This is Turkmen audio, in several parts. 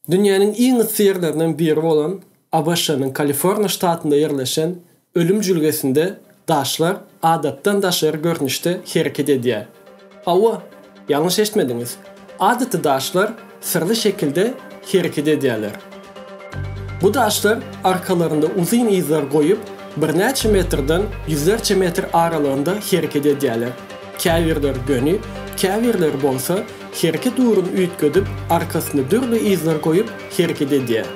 Dünýäniň iň yssy ýerlerinden biri bolan ABŞ-nyň Kaliforniýa ştatynda ýerleşen Ölüm jülgesinde daşlar adatdan daşary görnüşde hereket edýär. Hawa, ýalňyş eşitmediňiz, adaty daşlar syrly şekilde hereket edýärler. Bu daşlar arkalarynda uzyn yzlar goýup, birnäçe metrden ýüzlerçe metr aralygynda hereket edýärler, käbirleri göni, käbirleri bolsa Hereket ugrun üýtgedip, arkasyny dürli yzlar goýup, hereket edýär.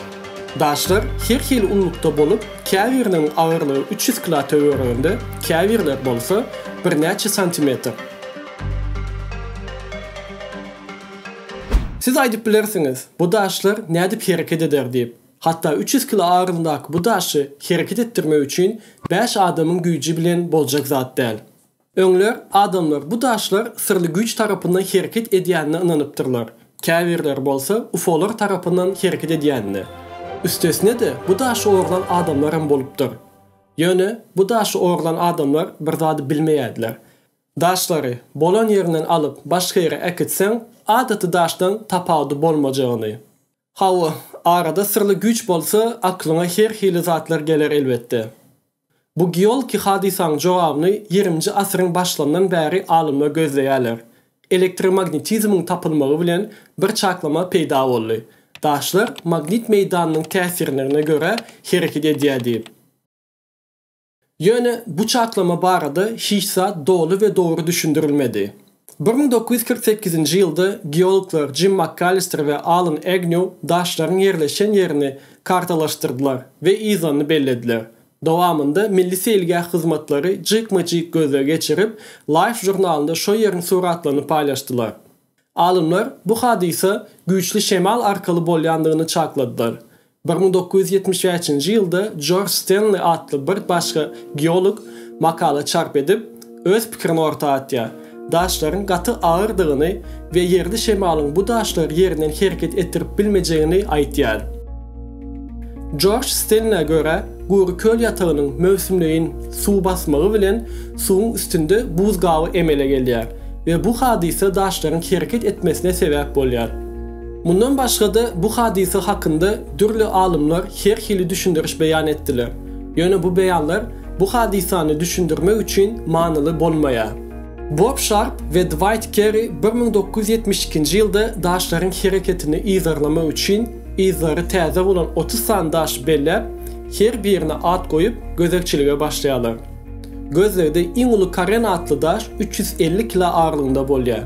Daşlar her hili unlukda bolup, käbiriniň agyrlygy üç ýüz kila töwereginde, käbirleri bolsa, birnäçe santimetr. Siz aýdyp bilersiňiz, bu daşlar nädip hereket eder diýip. Hatda üç ýüz kila agyrlygyndaky bu daşy hereket etdirmek üçin bäş adamyň güýji bilen boljak zat däl. Öňler adamlar bu daşlar syrly güýç tarapyndan hereket edýänine ynanypdyrlar, käbirleri bolsa ufolar tarapyndan hereket edýänine. Üstesine-de bu daşy ogurlan adamlar hem bolupdyr. Ýöne bu daşy ogurlan adamlar bir zady bilmeýärdiler. Daşlary bolan ýerinden alyp başga ýere äkitseň, adaty daşdan tapawudy bolmajagyny. Hawa, arada syrly güýç bolsa, aklyňa her hili zatlar geler elbetde. Bu geolki hadysaň jogabyny ýirinji asyryň başlandan bäri alymlar gözleýärler. Elektromagnitizmiň tapylmagy bilen bir çaklama peýda boldy. Daşlar magnit meýdanynyň täsirnrine görä hereket edýärdi. Ýöne bu çaklama barada hiç zat doly we dogry düşündirilmedi. Bir müň dokuz ýüz kyrk sekizinji ýylda geologlar Jim Makkalister we Alan Egnýu daşlaryň ýerleşen ýerini kartalaşdyrdylar we yzanyny bellediler. Dowamynda Milli seýilgäh hyzmatlary jikme-jik gözleg geçirip, Life žurnalynda şo ýeriň suratlaryny paýlaşdylar. Alymlar bu hadysa güýçli şemal arkaly bolýandygyny çakladylar. Bir müň dokuz ýüz ýetmiş bäşinji ýylda Jorj Stenli atly bir başga geolog makala çarp edip, öz pikirini orta atýar, Daşlaryň gaty agyrdygyny we ýerli şemalyň bu daşlary ýerinden hereket etdirip bilmejegini aýtýar. Jorj Stenlä görä, gury köl ýatagynyň möwsümleýin suw basmagy bilen suwuň üstünde buz gaby emele gelýär we bu hadysa daşlaryň hereket etmesine sebäp bolýar. Mundan başga-da bu hadysa hakynda dürli alymlar her hili düşündiriş beýan etdiler. Ýöne bu beýanlar bu hadysany düşündirmek üçin manyly bolmaýar. Bob Şarp we Dwight Kerri bir müň dokuz ýüz ýetmiş ikinji ýylda daşlaryň hereketini yzarlamak üçin yzlary täze bolan otuz sany daşy belläp, her birine at goýup, gözegçilige başlaýarlar. Gözlegde iň uly Karen atly daş üç ýüz elli kilo agyrlygynda bolýar.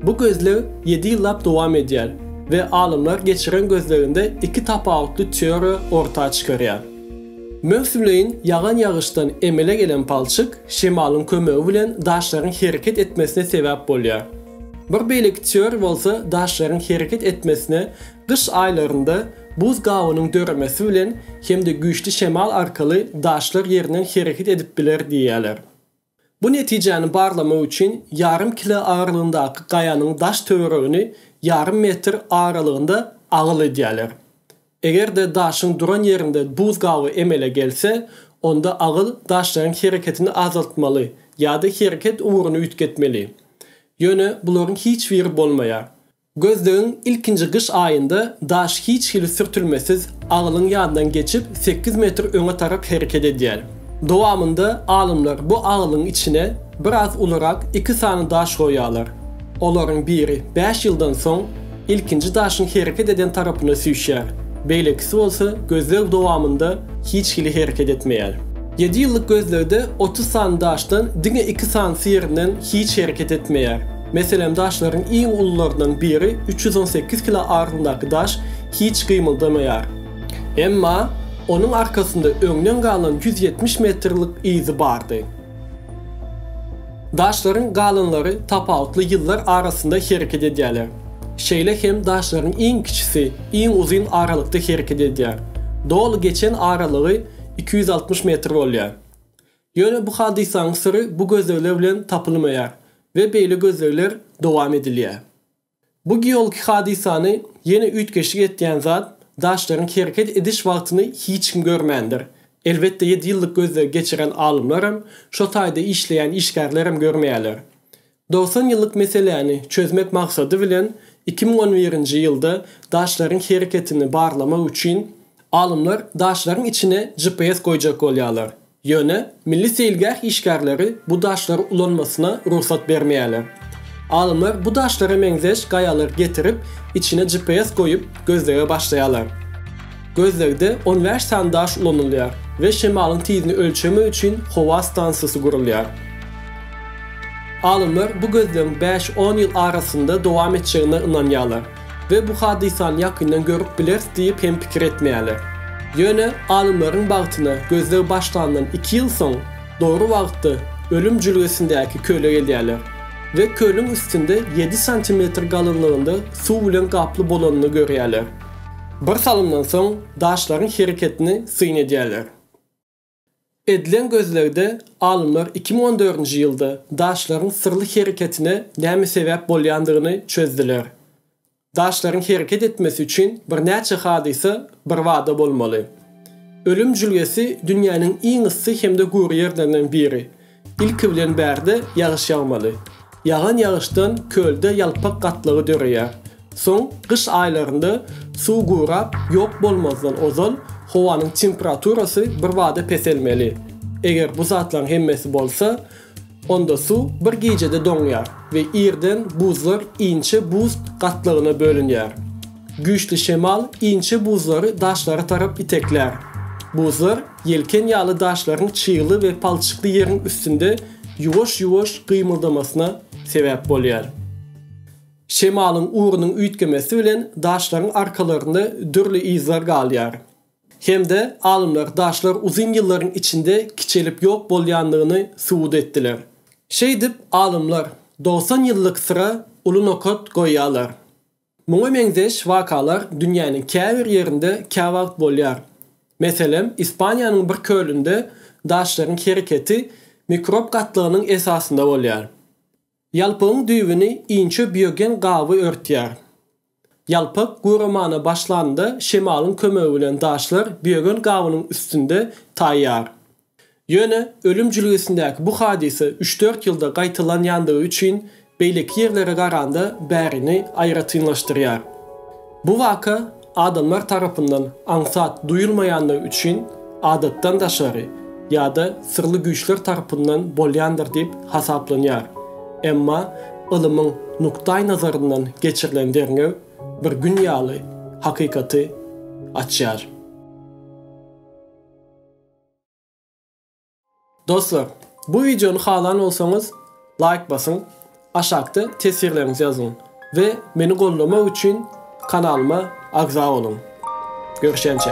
Bu gözleg ýedi ýyllap dowam edýär we alymlar geçiren gözleginde iki tapawutly teoriýa orta çykarýar. Möwsümleýin ýagan ýagyşdan emele gelen palçyk şemalyň kömegi bilen daşlaryň hereket etmesine sebäp bolýar. Bir beýleki teoriýa bolsa daşlaryň hereket etmesine Gyş aýlarynda buz gabynyň döremesi bilen hem-de güýçli şemal arkaly daşlar ýerinden hereket edip biler diýýärler. Bu netijäni barlamak üçin ýarym kile agyrlygyndaky gaýanyň daş töweregini ýarym metr aralygynda agyl edýärler. Eger-de daşyň duran ýerinde buz gaby emele gelse, onda agyl daşlaryň hereketini azaltmaly ýa-da hereket ugruny üýtgetmeli. Ýöne bularyň hiç biri bolmaýar. Gözlegiň ilkinji gyş aýynda daş hiç hili sürtülmesiz agylyň ýanyndan geçip sekiz metr öňe tarap hereket edýär. Dowamynda alymlar bu agylyň içine biraz ulurak iki sany daş goýýarlar. Olaryň biri bäş ýyldan soň ilkinji daşyň hereket eden tarapyna süýşýär, beýlekisi bolsa gözleg dowamynda hiç hili hereket etmeýär. Ýedi ýyllyk gözlegde otuz sany daşdan diňe iki sanysy ýerinden hiç hereket etmeýär. Meselem, daşlaryň iň ulularyndan biri üç ýüz on sekiz kilo agyrlygyndaky daş hiç gymyldamaýar. Emma onuň arkasynda öňden galan ýüz ýetmiş metrlik yzy bardy. Daşlaryň galanlary tapawutly ýyllar arasynda hereket edýärler. Şeýle hem daşlaryň iň kiçisi iň uzyn aralykda hereket edýär. Doly geçen aralygy iki ýüz altmyş metr bolýar. Ýöne bu hadysanyň syry bu gözlegler bilen tapylmaýar we beýle gözlegler dowam edilýär. Bu geologik hadysany ýene üýtgeşik etýän zat daşlaryň hereket ediş wagtyny hiç kim görmändir. Elbetde ýedi ýyllyk gözlegi geçiren alymlaram, şo taýda işleýän işgärlerem görmeýärler. Dogsan ýyllyk meseläni çözmek maksady bilen iki müň on birinji ýylda daşlaryň hereketini barlamak üçin alymlar daşlaryň içine GPS goýjak bolýarlar. Ýöne milli seýilgäh işgärleri bu daşlary ulanmasyna rugsat bermeýärler. Alymlar bu daşlara meňzeş gaýalary getirip, içine GPS goýup, gözlege başlaýarlar. Gözlegde on bäş sany daş ulanylýar we şemalyň tizini ölçemek üçin howa stansiýasy gurulýar. Alymlar bu gözlegiň bäş-on ýyl arasynda dowam etjegine ynanýarlar we bu hadysany ýakyndan görüp bileris diýip hem pikir etmeýärler. Ýöne alymlaryň bagtyna gözleg başlandan iki ýyl soň dogry wagtda Ölüm jülgesindäki köle gelýärler we kölüň üstünde ýedi santimetr galynlygynda suw bilen gaply bolanyny görýärler. Bir salymdan soň daşlaryň hereketini syn edýärler. Edilen gözlegde alymlar iki müň on dördünji ýylda daşlaryň syrly hereketine näme sebäp bolýandygyny çözdüler. Daşlaryň hereket etmesi üçin birnäçe hadysa birbada bolmaly. Ölüm jülgesi dünýäniň iň yssy hem-de gury ýerlerinden biri. Ilki bilen bärde ýagyş ýagmaly. Ýagan ýagyşdan kölde ýalpak gatlagy döreýär. Soň gyş aýlarynda suw gurap ýok bolmazdan ozal howanyň temperaturasy birbada peselmeli. Eger bu zatlaryň hemmesi bolsa, onda suw bir gijede doňýar we irden buzlar inçe buz gatlagyna bölünýär. Güýçli şemal inçe buzlary daşlara tarap iteklär. Buzlar Ýelken ýaly daşlaryň çygly we palçykly ýeriň üstünde ýuwaş-ýuwaş gymyldamasyna sebäp bolýar. Şemalyň ugrunyň üýtgemesi bilen daşlaryň arkalarynda dürli yzlar galýar. Hem-de alymlar daşlar uzyn ýyllaryň içinde kiçelip ýok bolýandygyny subut etdiler. Şeýdip, alymlar dogsan ýyllyk syra uly nokat goýýarlar. Muňa meňzeş wakalar dünýäniň käbir ýerinde käwagt bolýar. Meselem, Ispaniýanyň bir kölünde daşlaryň hereketi mikrob gatlagynyň esasynda bolýar. Ýalpygyň düýbüni inçe biogen gaby örtýär. Ýalpyk guramana başlanda şemalyň kömegi bilen daşlar biogen gabynyň üstünde taýýar. Ýöne ölüm jülgesindäki bu hadysa üç-dört ýylda gaýtalanýandygy üçin beýleki ýerlere garanda bärini aýratynlaşdyrýar. Bu waka adamlar tarapyndan aňsat duýulmaýandygy üçin adatdan daşary ýa-da syrly güýçler tarapyndan bolýandyr diýip hasaplanýar. Emma ylymyň nukdaýnazaryndan geçirilen derňew bir gün ýaly hakykaty açýar. Dostlar, bu wideony halan bolsaňyz laýk basyň, aşakda teswirleriňizi ýazyň we meni goldamak üçin kanalyma agza boluň. Görüşençe.